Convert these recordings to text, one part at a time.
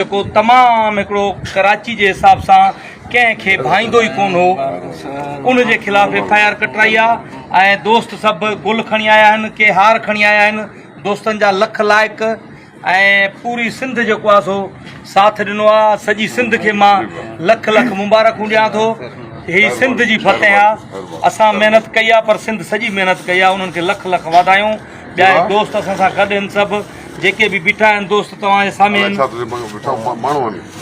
جيڪو تمام هڪڙو ڪراچي جي حساب سان ڪنهن کي ڀائيندو ئي ڪون هو ان جي خلاف ايف آء آر ڪٽرائي آ ۽ دوست سڀ گل کڻي آيا آهن ڪي هار کڻي آيا آهن دوستن جا لک لائق ۽ پوري سنڌ جيڪو آ سو ساٿ ڏنو آ سڄي سنڌ کي مان لک لک مبارڪون ڏيان ٿو هي سنڌ جي فتح آ اسان محنت ڪئي آ پر سنڌ سڄي محنت ڪئي آ انهن کي لک لک واڌايون ٻيا دوست اسان سان گڏ ان سڀ جيڪي به بيٺا آهن دوست توهان جي سامهين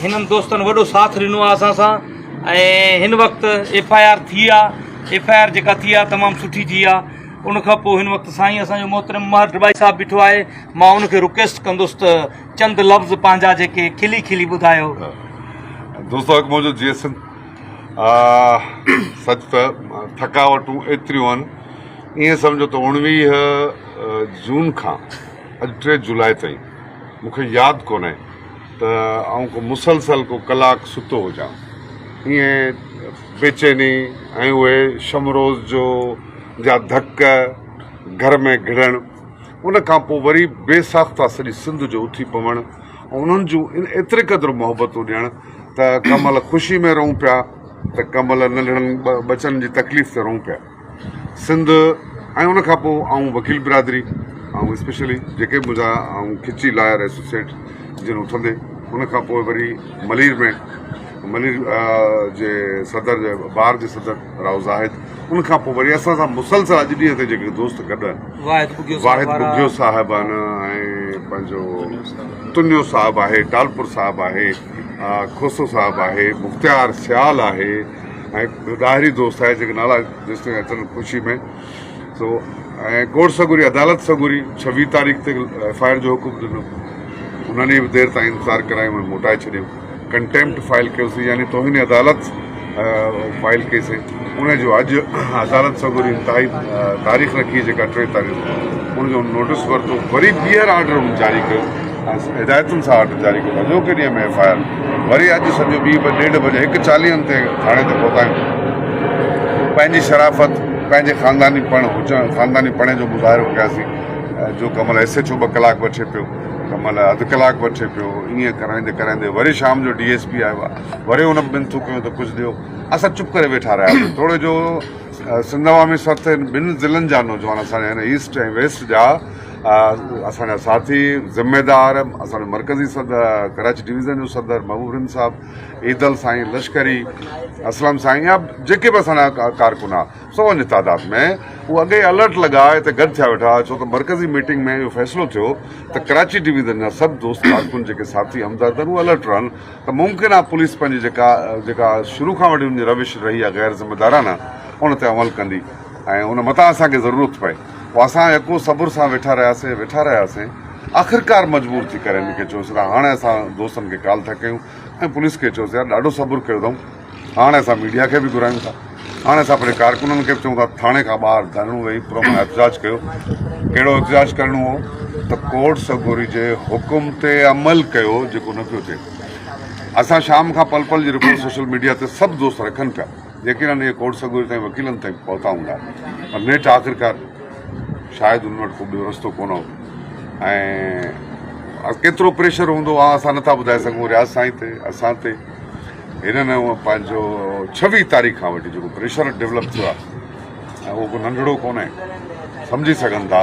هنن دوستن وڏو ساٿ ڏنو آهي اسان سان ۽ هن وقت ايف آء آر ٿي آهي ايف آء آر جيڪا ٿي آهي تمام سٺي ٿي آهي ان کان پوء هن وقت سائين اسان جو محترم ماهر ڊبائي صاحب بيٺو آهي مان ان کي رڪويسٽ ڪندس ته چند لفظ پنهنجا جيڪي کلي کلي ٻڌايو دوست اک منهنجو جي سنڌ سچ ته ٿڪاوٽون ايتريون آهن ائين سمجهو ته اوڻويهه جون کان اڄ ٽي جولاء تائين مون کي ياد ڪونهي ته آئون ڪو مسلسل ڪو ڪلاڪ ستو هجان. ائين بيچيني ۽ اهي شم روز جو جا ڌڪ گهر ۾ گهڙڻ، ان کان پوء وري بي ساخته سڄي سنڌ جو اٿي پوڻ ۽ انهن جون ايتري قدر محبتون ڏيڻ ته ڪنهن مهل خوشي ۾ رئون پيا ته ڪنهن مهل ننڍڙن ٻچن جي تڪليف تي رئون پيا. سنڌ ۽ ان کان پوء آئون وڪيل برادري ۽ اسپيشلي جيڪي منهنجا آئون کچي لاير ايسوسيئيٽ جن اٿندي ان کان پوء وري ملير ۾ ملير جي صدر جي بار جي صدر راو زاهد ان کان پوء وري اسان سان مسلسل اڄ ڏينهن تي جيڪي دوست گڏ آهن واحد بگيو صاحب آهن ۽ پنهنجو تنيو صاحب آهي ٽالپور صاحب آهي کوسو صاحب آهي مختيار سيال آهي ۽ هڪ ڏاهري دوست آهي جيڪي نالا جيستائين اچن خوشي ۾ سو ۽ ڪورٽ سڳوري عدالت سڳوري ڇويهه تاريخ تي ايف آء آر جو حڪم ڏنو انهن به دير تائين انتظار ڪرايو ۽ موٽائي ڇڏيو ڪنٽيمپٽ فائل ڪيوسي يعني توهين عدالت فائل ڪيسي ان جو اڄ عدالت سڳوري انتهائي تاريخ رکي جيڪا ٽي تاريخ ان جو نوٽس ورتو وري ٻيهر آرڊر جاري ڪيو هدايتن سان آرڊر جاري ڪيو اڄوڪي ڏينهن ۾ ايف آء آر وري اڄ سڄو ٻي به ڏيڍ بجي هڪ چاليهن تي ٿاڻي تي پهتايون پنهنجي شرافت پنهنجي خانداني پڻ هجڻ خانداني پڻي جو مظاهرو ڪياسين جو ڪمل ايس ايڇ او ٻه ڪلاڪ وٺي پيو ڪمل اڌ ڪلاڪ وٺي پيو ائين ڪرائيندي ڪرائيندي وري شام جو ڊي ايس پي آيو آهي وري ان منٿون ڪيون ته ڪجهه ڏيو اسان چپ ڪري ويٺا رهياسين توڙي جو سنڌ عوامي سرت ٻن ضلعن جا نوجوان اسان جا هن ايسٽ ۽ ويسٽ جا اسان جا ساٿي ذميدار اسان جو مرڪزي صدر ڪراچي ڊويزن جو صدر محبوب رند صاحب عيدل سائين لشڪري اسلم سائين يا جيڪي به اسان جا ڪارڪن آ سو ان تعداد ۾ هو اڳي الرٽ لڳا هتي گڏ ٿيا ويٺا ڇو ته مرڪزي ميٽنگ ۾ اهو فيصلو ٿيو ته ڪراچي ڊويزن جا سڀ دوست ڪارڪن جيڪي ساٿي همدرد آهن هو الرٽ رهن ته ممڪن آ پوليس پنهنجي جيڪا جيڪا شروع کان وٺي ان جي روش رهي آ غير ذميدارانه ان تي عمل ڪندي ۽ ان متان اسان کي ضرورت پئي اسان يڪو صبر سان ويٺا رهياسين ويٺا رهياسين آخرڪار مجبور ٿي ڪري هن کي چيوسين ته هاڻي اسان دوستن کي ڪال ٿا ڪيون ۽ پوليس کي چيوسين يار ڏاڍو صبر ڪيو اٿئون هاڻي اسان ميڊيا کي به گهرايون ٿا هاڻي اسان پنهنجي ڪارڪنن کي به چئون ٿا ٿاڻي کان ٻاهر ڌرڻو ويهي پرامن احتجاج ڪيو ڪهڙو احتجاج ڪرڻو هو ته ڪورٽ سگوري جي حڪم تي عمل ڪيو جيڪو نه پيو ٿئي اسان شام کان پل پل جي رپورٽ سوشل ميڊيا تي سڀ دوست رکن پيا يقينن اهي ڪوڙ سڳوري تائين وڪيلن تائين به پهتا هوندا پر نيٺ آخرڪار شايد انهن وٽ ڪو ٻيو رستو ڪونه هو ۽ ڪيترو پريشر هوندو اها اسان نٿا ٻڌائي سگهون رياض سائين تي اسان تي هنن پنهنجو ڇويهه تاريخ کان وٺي جيڪو پريشر ڊيولپ ٿيو آهي اهو ڪو ننڍڙو ڪونهي سمجهي سگهن ٿا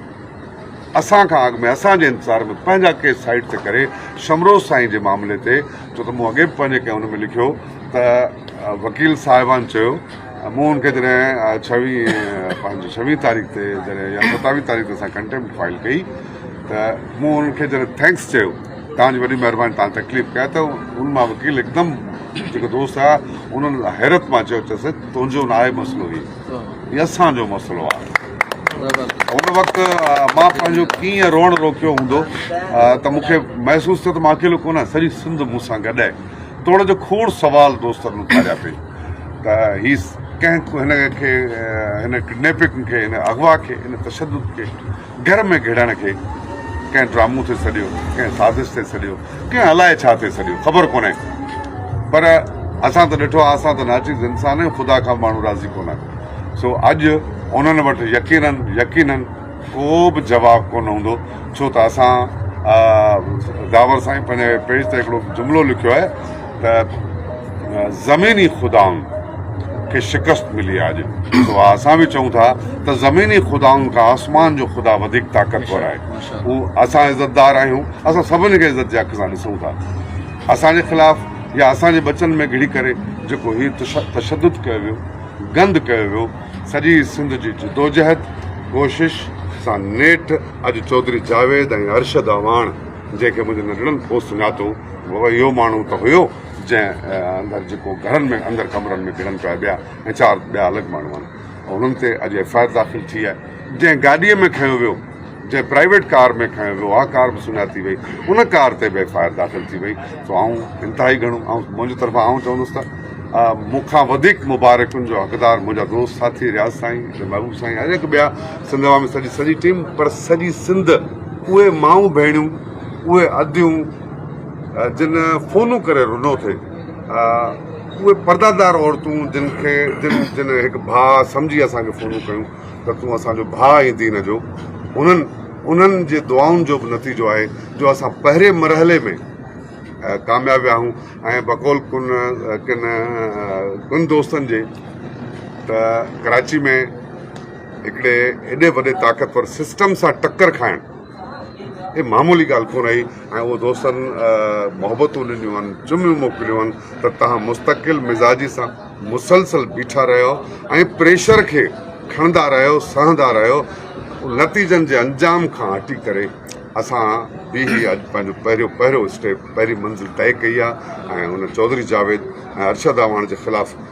اسان کان اڳ ۾ اسان جي انتظار ۾ پنهنجا ڪيس سائيڊ تي ڪري شمروز سائين جي معاملي تي ڇو ته مون اڳي به پنهنجي ڪنهن ان ۾ لکيو ته وڪيل صاحبان چيو مون ان کي جڏهن ڇويهه پنهنجي ڇويهه تاريخ تي جڏهن يا ستاويهه تاريخ تي اسان ڪنٽيمپٽ فائل ڪئي ته مون ان کي جڏهن ٿينڪس چيو توهان جي وڏي مهرباني توهان تڪليف ڪئي ته ان مان وڪيل هڪدم جيڪو دوست هئا انهن حيرت مان چيو چيس تنهنجو ناهي مسئلو هي هي اسان جو مسئلو آهي. هن وقت مان پنهنجو ڪيئن روئڻ روڪيو هوندو ته مون کي محسوس ٿيو ته مان اڪيلو ڪونه آهيان سڄي سنڌ مون سان گڏ آهي. توڙي جو کوڙ سوال دوستن مون کان اٿاريا پئي ته هي ڪنهن هن کي هن ڪڊنيپنگ کي هن اغوا کي هن تشدد کي گهر ۾ گهڙڻ کي ڪنهن ڊرامو ٿي سڏيو ڪنهن سازش ٿي سڏيو ڪنهن الائي ڇا ٿي سڏيو خبر ڪونهي پر اسان ته ڏٺو آهي اسان ته ناچيز انسان آهيون خدا کان ماڻهو راضي ڪونه آهن سو اڄ انهن وٽ يقينن يقينن ڪو به جواب ڪونه هوندو ڇو ته اسان داور سائين پنهنجي پيج تي هڪڙو جملو لکيو آهي ته زميني خدائن کي شڪست ملي آهي اڄ سو اسان به چئون ٿا ته زميني خدائن کان آسمان جو خدا وڌيڪ طاقتور آهي هو اسان عزتدار آهيون اسان سڀني کي عزت جي اک سان ڏسون ٿا اسان جي خلاف يا اسان جي بچن ۾ گهڙي ڪري جيڪو هي تشدد ڪيو ويو گند ڪيو ويو سڄي سنڌ جي جدوجهد ڪوشش سان نيٺ اڄ چوڌري جاويد ۽ ارشد اعواڻ جنهن کي منهنجي ننڍڙن ڦو سڃاتو اهو ماڻهو ته هيو جنهن اندر جيڪو گهرن ۾ اندر ڪمرن ۾ گهڙن پيا ٻيا ۽ چار ٻيا الڳ ماڻهو آهن انهن تي اڄ ايف آء آر داخل ٿي آهي جنهن گاڏي ۾ کنيو ويو جنهن پرائيويٽ ڪار ۾ کنيو ويو اها ڪار به سڃاتي وئي ان ڪار تي به ايف آء آر داخل ٿي وئي سو آئون انتهائي گهڻو آئون منهنجي طرفان آئون چوندس ته مون کان وڌيڪ مبارڪن جو حقدار منهنجا دوست ساٿي رياض سائين محبوب سائين هر هڪ ٻيا سنڌ عوامي سڄي سڄي ٽيم پر سڄي سنڌ اهي مائون ڀيڻيون اهي اديون جن فونون ڪري رنو ٿي، اهي پردادار عورتون جن کي جن هڪ ڀاء سمجهي اسان کي فونون ڪيون ته تون اسان جو ڀاء آهين دين جو، انهن انهن جي دعائن جو به نتيجو آهي جو اسان پهرين مرحلي ۾ ڪامياب ويا آهيون ۽ بقول ڪن ڪن ڪن دوستن جي ته ڪراچي ۾ هڪڙي ايڏي وڏي طاقتور سسٽم سان ٽڪر کائڻ هي معمولي ڳالهه ڪونه رهي ۽ اهو دوستن محبتون ڏنيون آهن، چميون موڪليون آهن ته توهان مستقل مزاجي سان مسلسل بيٺا رهيو ۽ پريشر کي کڻندا رهيو، سهندا رهيو، نتيجن جي انجام کان هٽي ڪري اسان به هي اڄ پنهنجو پهريون پهريون اسٽيپ پهرين منزل طئي ڪئي آهي ۽ ان چوڌري جاويد ۽ ارشد اعواڻ جي خلاف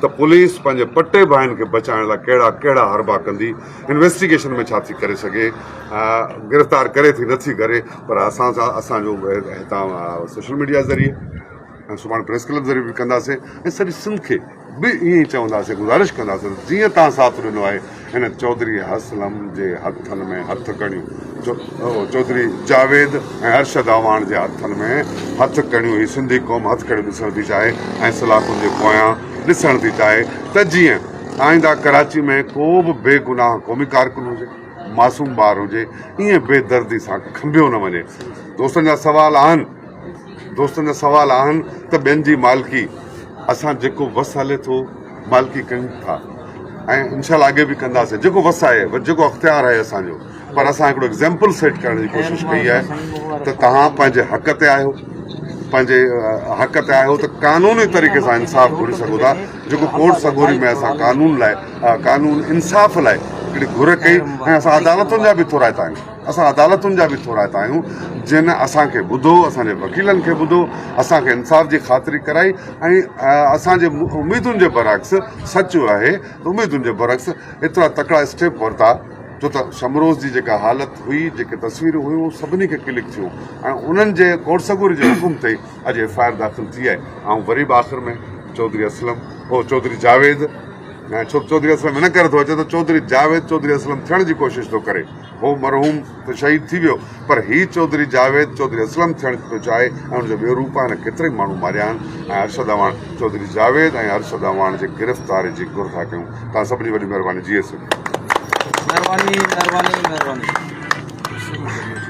ته پوليس پنهنجي پٽي ڀائين کي بچائڻ لاء ڪهڙا ڪهڙا حربا ڪندي، انويسٽيگيشن ۾ ڇا ٿي ڪري سگهي، گرفتار ڪري ٿي نٿي ڪري پر اسان سان اسان جو هتان سوشل ميڊيا ذريعي ۽ سڀاڻي پريس ڪلب ذريعي به ڪنداسين ۽ سڄي سنڌ کي به ائين ئي چونداسين گذارش ڪنداسين ته جيئن تان ساٿ ڏنو آهي هن چوڌري اسلم جي هٿن ۾ هٿ ڪڙيون، چوڌري جاويد ۽ ارشد اعواڻ جي هٿن ۾ هٿ ڪڙيون هي سنڌي قوم هٿ ڪڙيون ڏسڻ ٿي چاهي ۽ سلاخن جي پويان ڏسڻ ٿي چاهي ته جيئن آئنده ڪراچي ۾ ڪو به بي گناهه قومي ڪارڪن هجي، معصوم ٻار هجي ائين بي دردي سان کنڀيو نه وڃي. دوستن جا سوال آهن. دوستن جا سوال آهن ته ٻين جي مالڪي اسان جيڪو وس هلي ٿو مالڪي ڪيون ٿا ۽ انشاء الله اڳي به ڪنداسين جيڪو وس آهي جيڪو اختيار آهي اسان جو پر اسان هڪڙو ايگزامپل سيٽ ڪرڻ جي ڪوشش ڪئي آهي ته توهان پنهنجي حق تي آهيو پنهنجي حق تي آهيو ته قانوني طريقي سان انصاف گهري سگهو ٿا جيڪو ڪورٽ سڳوري ۾ اسان قانون لاء قانون انصاف لاء هڪڙي گهر ڪئي ۽ اسان عدالتن جا به ٿورائتا آهيون اسان عدالتن جا به ٿورائتا آهيون جن اسان کي ٻڌو اسان جي وڪيلن کي ٻڌو اسان کي انصاف جي خاطري ڪرائي ۽ اسان جي اميدن جي برعڪس سچ آهي ته اميدن جي برعڪس ايترا تڪڙا اسٽيپ ورتا جو ته شمروز جي جيڪا حالت هئي جيڪي تصويرون هيون اهي سڀني کي ڪلڪ ٿيون ۽ انهن جي ڪورسگوري جي حڪم تي اڄ ايف آء آر داخل ٿي آهي آئون وري به آخر ۾ چوڌري اسلم هو چوڌري جاويد ۽ چوڌري اسلم ان ڪري ٿو اچي ته چوڌري جاويد چوڌري اسلم ٿيڻ جي ڪوشش ٿو ڪري هو مرحوم ته شهيد ٿي ويو پر هي چوڌري جاويد چوڌري اسلم ٿيڻ ٿو چاهي ۽ ان جو ٻيو روپ آهي نه ڪيترائي ماڻهو ماريا آهن ۽ ارشد اعواڻ چوڌري جاويد ۽ ارشد اعواڻ جي گرفتاري جي گهر ٿا ڪيون توهان سڀني وڏي مهرباني جيئي سنڌ. مهرباني مهرباني مهرباني.